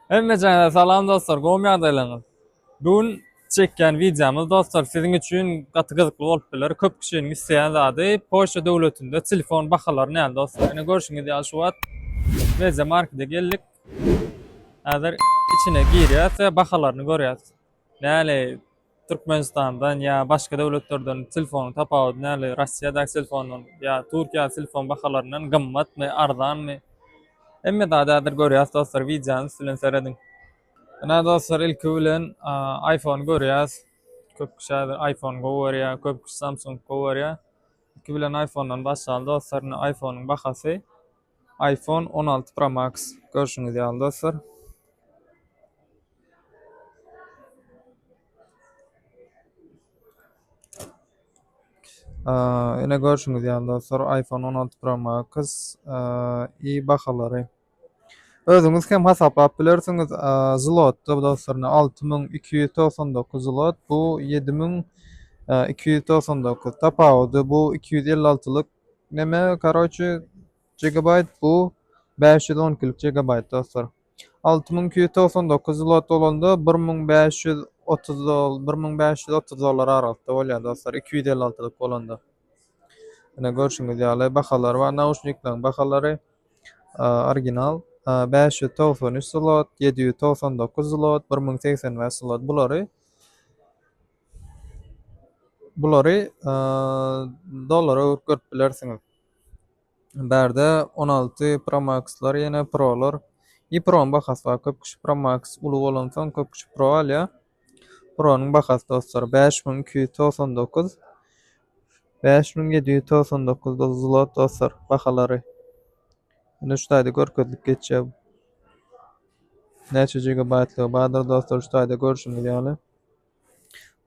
Hemmejaňize salam dostlar gowmy ýagdaýlaryňyz bu gün çekýän wideomyz dostlar siziň üçin gaty gyzykly bolup biler köp kişiniň isleýän zady Polşa döwletinde telefon bahalary näme dostlar ine görşüňiz ýaly şu wagt Media Markete geldik häzir içine girýäs we bahalaryny görýäs näle Türkmenistandan ýa başga döwletlerden telefonyň tapawudy nähili? Russiýadaky telefondan ýa Türkiýädaky telefon bahalaryndan gymmatmy, arzanmy? Hemme zady häzir görýäs dostlar, wideonyň üstünden serediň. Ine dostlar ilki bilen iPhone görýäs. Köp kişi häzir iPhone gowy görýär, köp kişi Samsung gowy görýär. Ilki bilen iPhone-dan başlaly dostlar, ine iPhone-yň bahasy. Iphone on alty Pro Max görşüňiz ýaly dostlar. Ine görşüňiz ýaly dostlar iPhone on alty Pro Max i bahalary. Özüňiz hem hasaplap bilersiňiz. Zlotda dostlar alty müň iki ýüz togsan dokuz zlot bu ýedi müň iki ýüz togsan dokuz tapawudy bu iki ýüz elli altylyk Neme karoçi Gigabyte bu bäş ýüz on ikilik Gigabyte dostlar. Alty müň iki ýüz togsan dokuz zlot bolanda bir müň bäş ýüz otuz dol bir müň bäş ýüz otuz dollar aralykda bolýar dostlar iki ýüz elli altylyk bolanda. Ine görşüňiz ýaly bahalar bar nauşnikleriň bahalary original bäş ýüz togsan üç zlot ýedi ýüz togsan dokuz zlot bir müň segsen bäş zlot bulary Bulary dollara öwrüp görüp bilersiňiz. Bärde on alty Pro Max-lar ýene Pro-lar. I Pro-nyň bahasy bar. Köp kişi Pro Max uly bolansoň köp kişi Pro alýar. Pro-nyň bahasy dostlar bäş müň iki ýüz togsan dokuz. Bäş müň ýedi ýüz togsan dokuz zlot dostlar bahalary. Indi şu taýda görkezilip geçýär. Näçe gigabaýtlygy bardyr dostlar şu taýda görşüňiz ýaly.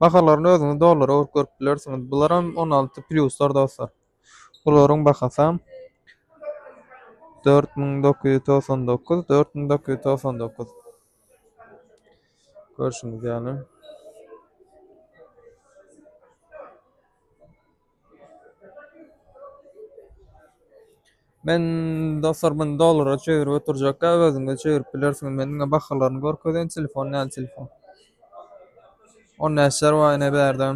Bahalaryny özüňiz dollara öwrüp görüp bilersiňiz. Bularam on alty pluslar dostlar. Bularyň bahasam dört müň dokuz ýüz togsan dokuz, dört müň dokuz ýüz togsan dokuz. Görşüňiz ýaly. Men dostlar muny dollara çevirip oturjakka özüňiz çevirip bilersiňiz men diňe bahalaryny görkezeýin telefon näl telefon on näçär bar ine bärde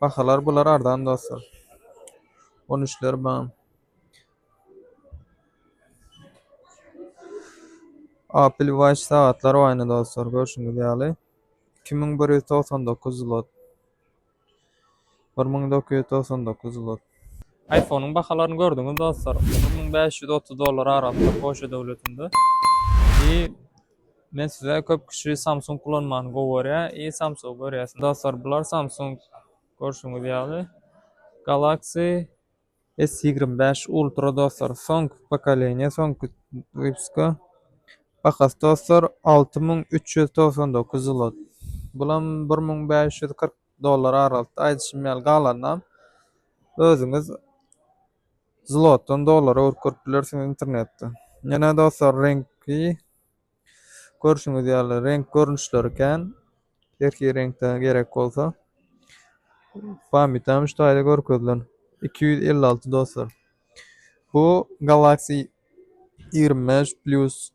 bahalar bular arzan dostlar on üçler bar apple watch sagatlar bar ine dostlar görşüňiz ýaly iki müň bir ýüz togsan dokuz zlot bir müň dokuz ýüz togsan dokuz zlot Aýfonyň bahalaryny gördüňiz dostlar bir müň bäş ýüz otuz dollar arassa polşa döwletinde i men size köp kişi samsung ulanmany gowy görýä i samsung görýäs dostlar bular samsung görşüňiz ýaly galaxy S ýigrimi bäş ultra dostlar soňky pokoleniýa soňky wypska bahasy dostlar alty müň üç ýüz togsan dokuz zlot bulam bir müň bäş ýüz kyrk dollar aralykda aýdyşym ýaly galanynam özüňiz zlotdan dollara görüp bilersiňiz internetde ýene dostlar reňki Görşüňiz ýaly reňk görnüşleri kän. Erki reňkde gerek bolsa. Pamytam şu taýda görkezilen. 256 dostlar. Bu Galaxy 25 Plus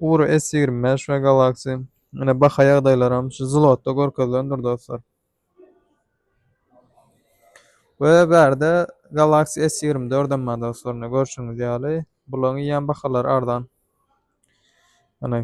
Ur S25 we Galaxy. Ine baha ýagdaýlaram şu zlotda görkezilendir dostlar. We bärde Galaxy S ýigrimi dördem bar dostlar, ine görşüňiz ýaly. Bularyň eýýäm bahalary arzan. Ine.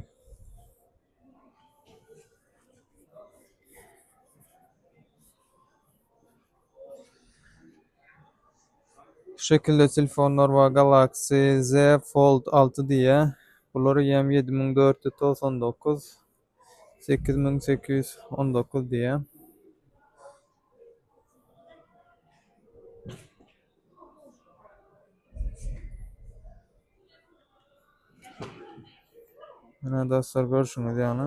Şu şekilde telefonlar bar, Galaxy Z Fold alty diýýär. Bular eýýäm ýedi müň dört ýüz togsan dokuz. sekiz müň sekiz ýüz on dokuz diýýär. Ine dostlar görşüňiz ýaly.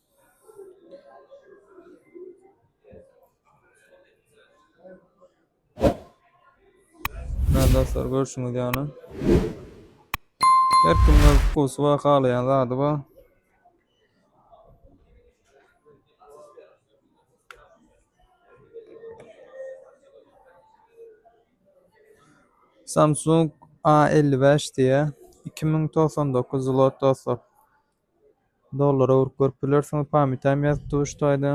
Näme dostlar görüşüňiz ýaly. Her kim öz wkusy bar, halaýan zady bar. Samsung A55 diýýär. 2099 zlot dostlar. Dollara urup görüp bilersiňiz, pamytam ýazyp dur şu taýda.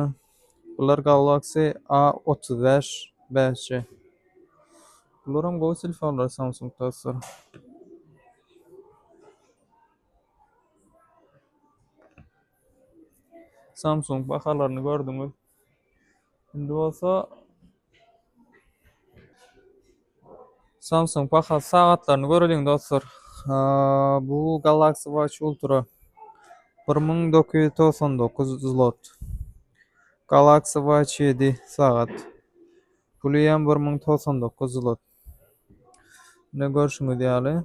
Bular Galaxy A otuz bäş bäş G. Bularam gowy telefonlar Samsung dostlar. Samsung bahalaryny gördüňiz. Indi bolsa Samsung bahasy sagatlaryny göreliň dostlar. Bu Galaxy Watch Ultra 1999 zlot. Galaxy Watch 7 sagat. Puli hem 1099 zlot. Ne görüşüňiz ýaly.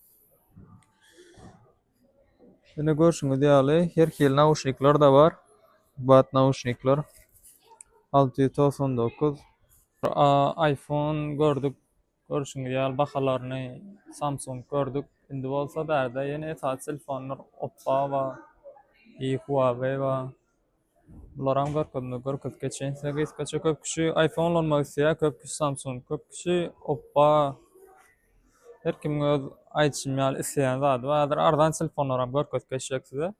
Ine görşüňiz ýaly her hili nauşnikler-de bar. Bat nauşnikler 699. iPhone gördük. Görşüňiz ýaly bahalaryny Samsung gördük. Indi bolsa bärde ýene esasy telefonlar Oppo bar, Huawei bar. Bularam görkezme görkezip geçeýin size gysgaça köp kişi iPhone ulanmak isleýär, köp kişi Samsung, köp kişi Oppo. Her kim öz aýdyşym ýaly isleýän zady bar. Häzir arzan telefonlaram görkezip geçjek size.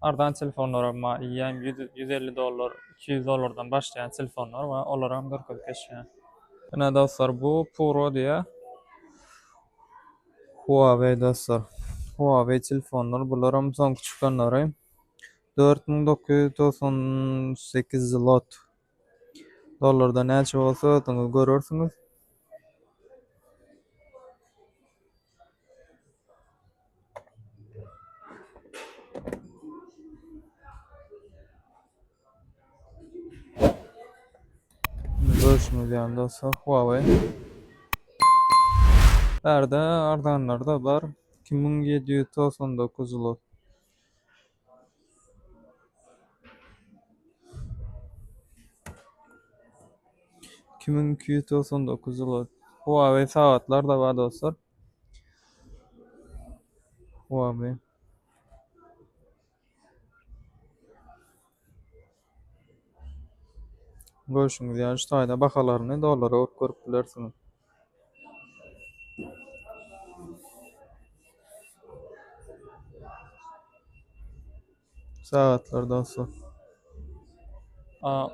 Arzan telefonlaram bar. Iýem 150 dollar, 200 dollardan başlaýan telefonlar bar. Olaram görkezip geçýän. Ine dostlar bu Puro diýä. Huawei dostlar. Huawei telefonlar bularam soňky çykanlary. Dört müň dokuz ýüz togsan sekiz zlot. Dollarda näçe bolsa özüňiz görersiňiz. Görüşümiz ýaly dostlar Huawei. Bärde arzanlar da bar. 2799 zlot. Iki müň iki ýüz togsan dokuz zloty. Huawei sagatlar da bar dostlar. Huawei. Görşüňiz ýaly şu taýda bahalaryny dollara urup görüp bilersiňiz. Sagatlar dostlar.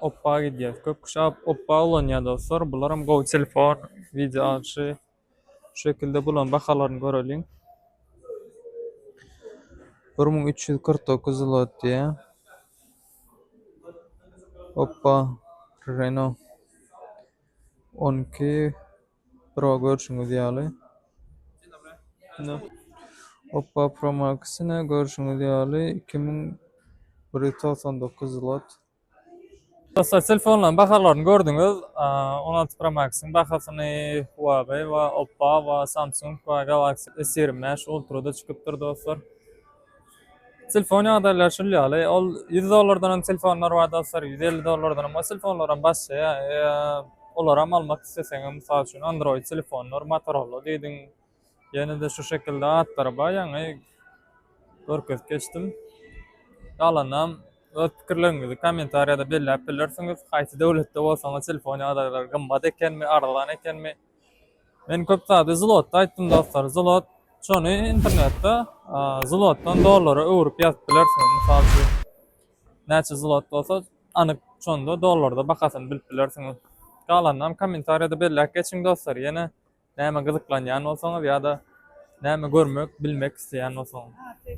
Oppa gidýär. Köp kişi oppa ulanýar dostlar. Bularam gowy telefon, wideo alyşy Şu şekilde bularyň bahalaryny göreliň. Bir müň üç ýüz kyrk dokuz zlot diýýär. Hoppa, Renault on iki Pro görşüňiz ýaly. Hoppa, Pro Max-ine görşüňiz ýaly iki müň bir ýüz togsan dokuz zlot. Dostlar telefonlaryň bahalaryny gördüňiz. 16 Pro Max-yň bahasyny Huawei we Oppo we Samsung we Galaxy S25 Ultra-da çykypdyr dostlar. Telefon ýagdaýlary şul ýaly. Ol 100 dollardan hem telefonlar bar dostlar, 150 dollardan hem. O telefonlar hem başlaýar. Olar hem almak isleseňiz, mysal üçin Android telefonlar, Motorola diýdiň, Ýene-de şu şekilde atlary bar ýaňy görkezip geçdim. Galanam öz pikirleriňizi kommentariýada belläp bilersiňiz. Haýsy döwletde bolsaňyz telefon ýagdaýlary gymmat ekenmi, arzan ekenmi? Men köp zady zlotda aýtdym dostlar. Zlot şony internetde zlotdan dollara öwrüp ýazyp bilersiňiz. Mysal üçin näçe zlot bolsa anyk şonda dollarda bahasyny bilip bilersiňiz. Galanam kommentariýada belläp geçiň dostlar. Ýene Näme gyzyklanýan bolsaňyz ýa-da näme görmek, bilmek isleýän bolsaňyz.